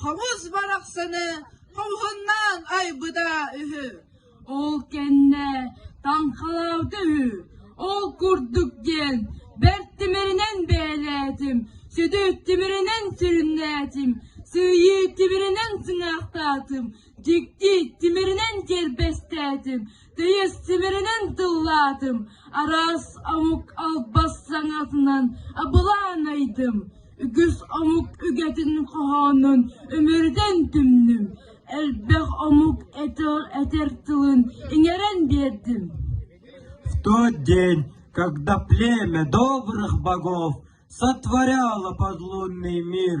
Хомус барахсаны хомуһуннаан айбыта үһү. Ол кэннэ таҥхалаабыта үһү. Ол курдук диэн бэрт тимиринэн бэйэлээтим, сүдү тимиринэн сүрүннээтим, сыыйыы тимиринэн сыҥаахтаатым, дьикти тимиринэн кэрбэстээтим, Тыйыс симиринэн тыллаатым, араас омук албас саҥатынан абылаанайдым, үгүс омук үгэтин хоһоонун үмүрүтэн түмнүм, элбэх омук этэр, этэр тылын иҥэрэн биэрдим. В тот день, когда племя добрых богов сотворяло подлунный мир,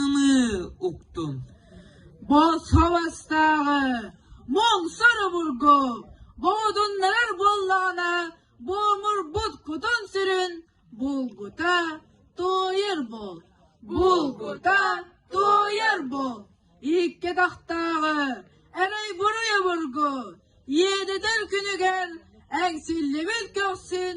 ымыы уктум бу сыластааҕы муҥсар обургу муодуннарар буоллаҕына буомурбут кутун-сүрүн булгута туойар буол булгута туойар буол икки атахтааҕы эрэй-буруй обургу иэдэтэр күнүгэр эҥсиллибит көхсүн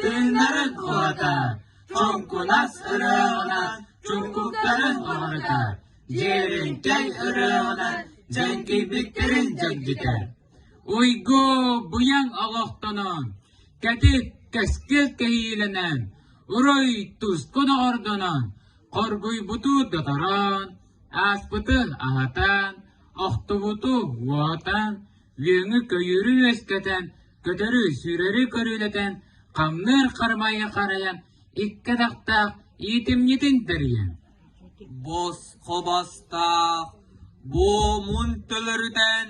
Тыыннарын уһата, хоҥкулас ырыаҕа, чуккуктарын оһорута, дьиэрэҥкэй ырыаҕа дьэҥкийбиттэрин дьэҥкитэр. Уйгу быйаҥ олохтонон, кэтит кэскил кэһиилэнэн, уруй тускун оҕордонон, хоргуйбуту доторон, ааспыты аһатан, охтубуту уотан, Үөҥү-көйүүрү үөскэтэн, көтөрү-сүүрэри көрүөлэтэн, хамныыр хармайы харайан, икки атахтаах иитимньитин тэрийэн. Бос хобостоох буомун төлөрүтэн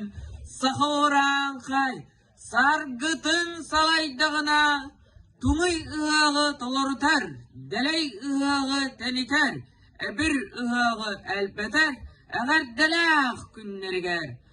саха орааҥхай саргытын салайдаҕына туҥуй ыһыаҕы толорутар, дэлэй ыһыаҕы тэнитэр, эбир ыһыаҕы элбэтэр эҕэрдэлээх күннэригэр